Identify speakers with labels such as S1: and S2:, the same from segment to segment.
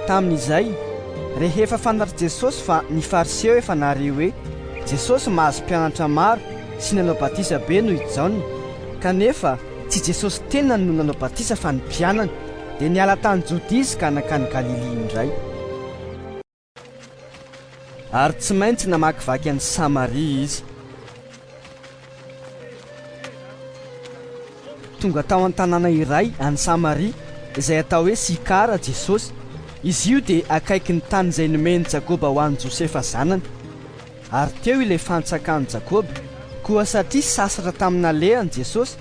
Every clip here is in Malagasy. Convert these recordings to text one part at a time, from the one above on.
S1: Tamin'izay, rehefa fantatr'i Jesosy fa ny Fariseo efa nahare hoe Jesosy mahazo mpianatra maro sy nanao batisa be noho i Jaona, kanefa Tsy Jesosy tenany no nanao batisa fa ny mpianany. Dia niala tany Jodia izy ka nankany Galilia indray. Ary tsy maintsy namakivaky an'i Samaria izy. Tonga tao an-tanàna iray any Samaria, izay atao hoe Sikara, Jesosy. Izy io dia akaikin'ny tany izay nomen'i Jakoba ho an'i Josefa zanany. Ary teo ilay fantsakan'i Jakoba. Koa satria sasatra tamin'ny nalehany Jesosy,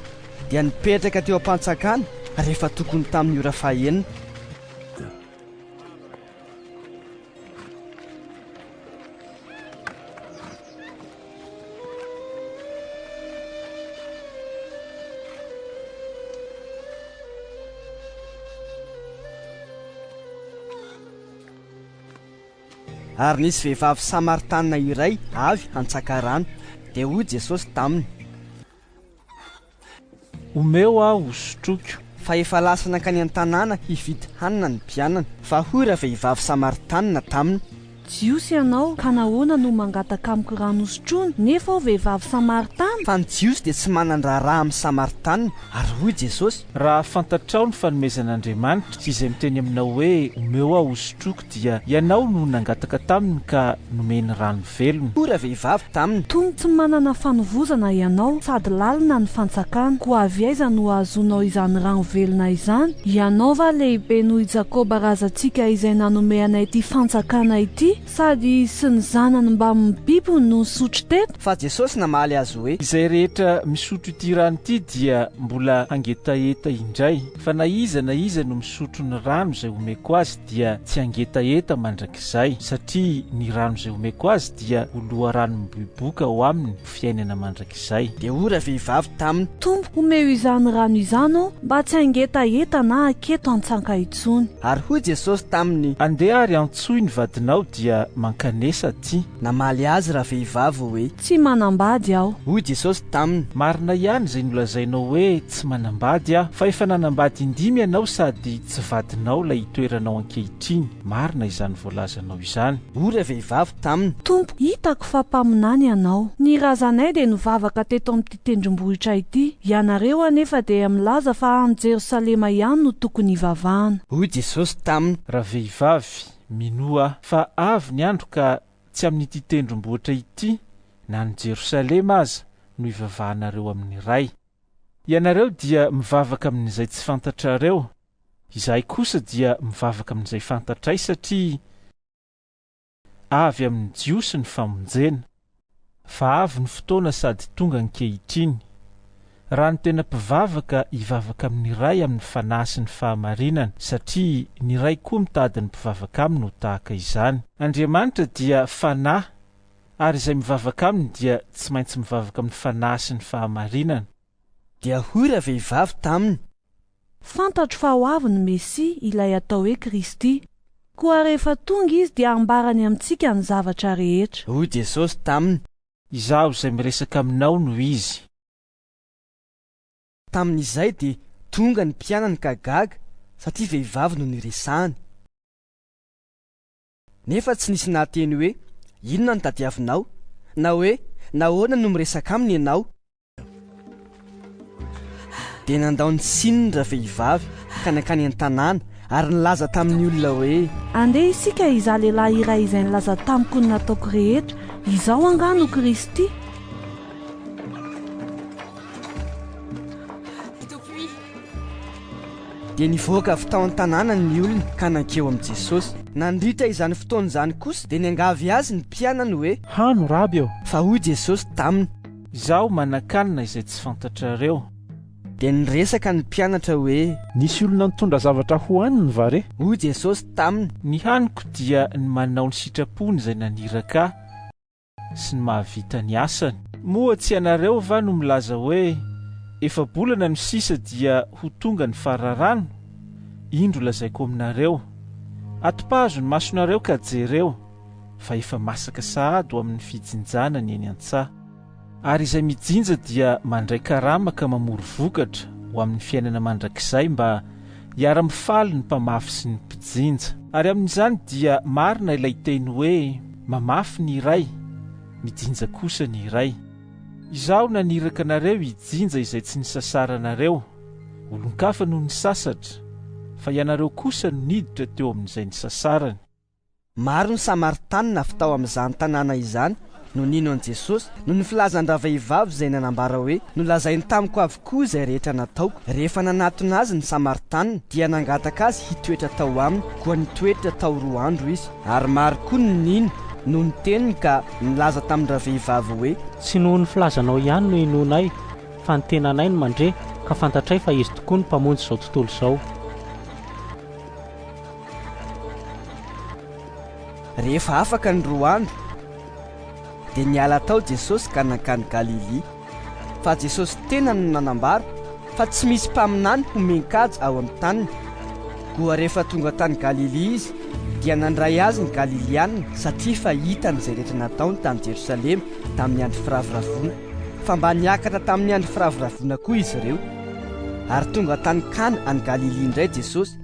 S1: dia nipetraka teo am-pantsakana rehefa tokony tamin'ny ora fahenina. Ary nisy vehivavy Samaritana iray avy hantsaka rano, dia hoy Jesosy taminy.
S2: Omeo aho ho sotroiko. Fa efa lasa
S1: nankany an-tanàna hividy hanina ny mpianany. Fa hoy ravehivavy Samaritana taminy. Jiosy ianao,
S3: ka nahoana no mangataka amiko rano hosotroina, nefa aho vehivavy Samaritana? Fa ny Jiosy dia tsy
S1: manan-draharaha amin'ny Samaritana. Ary hoy Jesosy. Raha fantatrao
S2: ny fanomezan'Andriamanitra, sy izay miteny aminao hoe, Omeo aho ho sotroiko, Dia ianao no nangataka taminy ka nomeny rano velona. Koa ravehivavy taminy.
S1: Tony tsy manana
S3: fanovozana ianao sady lalina ny fantsakana, koa avy aiza no ahazoanao izany rano velona izany? Ianao va lehibe noho i Jakoba razantsika izay nanome anay ity fantsakana ity? Sady izy sy ny zanany mbamin'ny bibiny no nisotro teto. Fa Jesosy namaly
S1: azy hoe. Izay rehetra
S2: misotro ity rano ity dia mbola hangetaheta indray, fa na iza na iza no misotro ny rano izay homeko azy, dia tsy hangetaheta mandrakizay, satria ny rano izay omeko azy dia ho loharano miboiboika ho aminy ho fiainana mandrakizay. Dia hoy ravehivavy
S1: taminy. Tompo, omeo izany
S3: rano izany aho mba tsy hangetaheta na haketo an-tsaka intsony. Ary hoy Jesosy
S1: taminy. Andeha ary antsoy
S2: ny vadinao dia mankanesa aty. Namaly azy
S1: ravehivavy hoe. Tsy manambady
S3: aho. Hoy Jesosy taminy.
S1: Marina ihany izay
S2: nolazainao hoe tsy manambady aho, fa efa nanambady indimy ianao sady Tsy vadinao ilay itoeranao ankehitriny, marina izany voalazanao izany. Hoy ilay vehivavy
S1: taminy. Tompo, hitako fa
S3: mpaminany Ianao. Ny razanay dia nivavaka teto amin'ity tendrombohitra ity. Ianareo anefa dia milaza fa any Jerosalema ihany no tokony hivavahana. Hoy Jesosy
S1: taminy. Ravehivavy,
S2: minoa Ahy fa avy ny andro ka tsy amin'ity tendrombohitra ity na any Jerosalema aza no hivavahanareo amin'ny Ray. Ianareo dia mivavaka amin'izay tsy fantatrareo, izahay kosa dia mivavaka amin'izay fantatray satria avy amin'ny Jiosy ny famonjena. Fa avy ny fotoana sady tonga ankehitriny. Raha ny tena mpivavaka hivavaka amin'ny Ray amin'ny Fanahy sy ny fahamarinana, satria ny Ray koa mitady ny mpivavaka Aminy ho tahaka izany. Andriamanitra dia Fanahy, Ary izay mivavaka aminy dia tsy maintsy mivavaka amin'ny fanahy sy ny fahamarinana. Dia
S1: hoy ravehivavy taminy. Fantatro
S3: fa ho avy ny Mesia, ilay atao hoe Kristy. Koa rehefa tonga Izy dia hambarany amintsika ny zavatra rehetra. Hoy Jesosy
S1: taminy. Izaho izay
S2: miresaka aminao no Izy.
S1: Tamin'izay dia tonga ny mpianany ka gaga satria vehivavy no niresahany. Nefa tsy nisy nahateny hoe, Inona no tadiavinao? na hoe, Nahoana no miresaka aminy ianao? Dia nandao ny siny ny ravehivavy ka nankany an-tanàna ary nilaza tamin'ny olona hoe. Andeha isika
S3: hizaha lehilahy iray izay nilaza tamiko ny nataoko rehetra. Izaho angaha no Kristy?
S1: Dia nivoaka avy tao an-tanànany ny olona ka nankeo amin'i Jesosy. Nandritra izany fotoana izany kosa dia niangavy Azy ny mpianany hoe. Hano, Raby ô!
S2: Fa hoy Jesosy
S1: taminy. Izaho manakanina izay tsy
S2: fantatrareo. Dia
S1: niresaka ny mpianatra hoe. Nisy olona nitondra
S2: zavatra hohaniny va re? Hoy Jesosy taminy.
S1: Ny haniko dia ny
S2: manao ny sitrapony izay naniraka Ahy. sy ny mahavita ny asany. Moa tsy ianareo va no milaza hoe, Efa-bolana no sisa dia ho tonga ny fararano? Indro lazaiko aminareo, Atompahazo ny masonareo ka jereo, fa efa masaka sahady ho amin'ny fijinjana ny eny an-tsaha. Ary izay mijinja dia mandray karama ka mamory vokatra ho amin'ny fiainana mandrakizay mba Hiara-mifaly ny mpamafy sy ny mpijinja. Ary amin'izany dia marina ilay teny hoe, Mamafy ny iray, mijinja kosa ny iray. Izaho naniraka anareo hijinja izay tsy nisasaranareo, olon-kafa no nisasatra, fa ianareo kosa no niditra teo amin'izay nisasarany. Maro
S1: ny Samaritanina avy tao amin'izany tanàna izany no nino an'i Jesosy noho ny filazan-dravehivavy izay nanambara hoe, Nolazainy tamiko avokoa izay rehetra nataoko. Rehefa nanatona azy ny Samaritanina, dia nangataka azy hitoetra tao aminy, koa nitoetra tao roa andro izy. Ary maro koa ny nino noho ny teniny ka nilaza tamin-dravehivavy hoe. Tsy noho ny filazanao
S4: ihany no inoanay, fa ny tenanay no mandre, ka fantatray fa izy tokoa no Mpamonjy izao tontolo izao.
S1: Rehefa afaka ny roa andro, dia niala tao Jesosy ka nankany Galilia. Fa Jesosy tena no nanambara fa tsy misy mpaminany homen-kaja ao amin'ny taniny. Koa rehefa tonga tany Galilia izy, dia nandray azy ny Galiliana satria fa hitany izay rehetra nataony tany Jerosalema tamin'ny Andro Firavoravoana, fa mba niakatra tamin'ny Andro Firavoravoana koa izy ireo. Ary tonga tany Kana any Galilia indray Jesosy,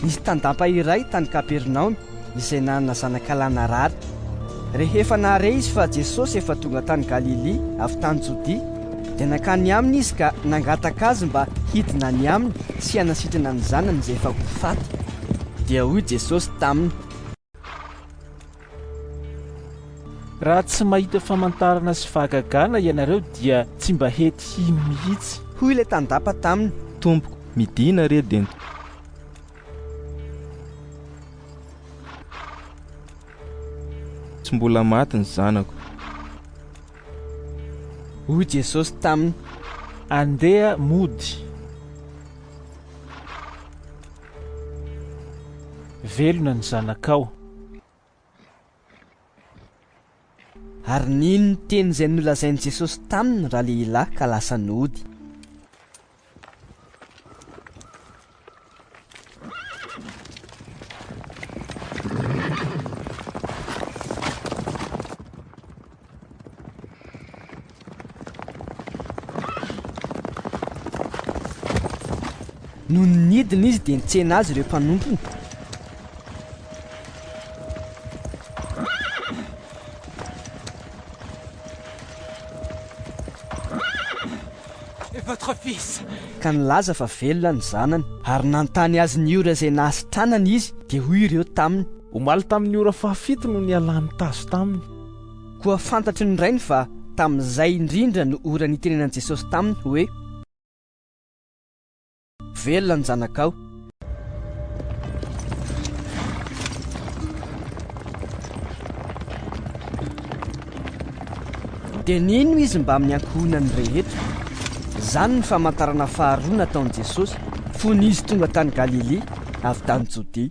S1: Nisy tandapa iray tany Kapernaomy izay nanana zanakalahy narary. Rehefa nahare izy fa Jesosy efa tonga tany Galilia avy tany Jodia, dia nankany aminy izy ka nangataka azy mba hidina any aminy sy hanasitrana ny zanany izay efa ho faty. Dia hoy Jesosy taminy,
S2: Raha tsy mahita famantarana sy fahagagana ianareo dia tsy mba hety hino mihitsy. Hoy ilay tandapa
S1: taminy. Tompoko, midina
S5: re dento. Tsy mbola maty ny zanako.
S1: Hoy Jesosy taminy. Andeha
S2: mody. Velona ny zanakao.
S1: Ary nino ny teny izay nolazain'i Jesosy taminy ny ralehilahy ka lasa nody. Nony nidina izy dia nitsena azy ireo mpanompony.
S6: Votre fils. Ka nilaza fa
S1: velona ny zanany. Ary nanontany azy ny ora izay nahasitranany izy, dia hoy ireo taminy. Omaly tamin'ny ora
S5: fahafito no nialany tazo taminy. Koa fantatry
S1: ny rainy fa tamin'izay indrindra no ora nitenenan'i Jesosy taminy hoe, Velona ny zanakao. Dia nino izy mbamin'ny ankohonany rehetra. Izany ny famantarana faharoa nataon'i Jesosy fony izy tonga tany Galilia avy tany Jodia.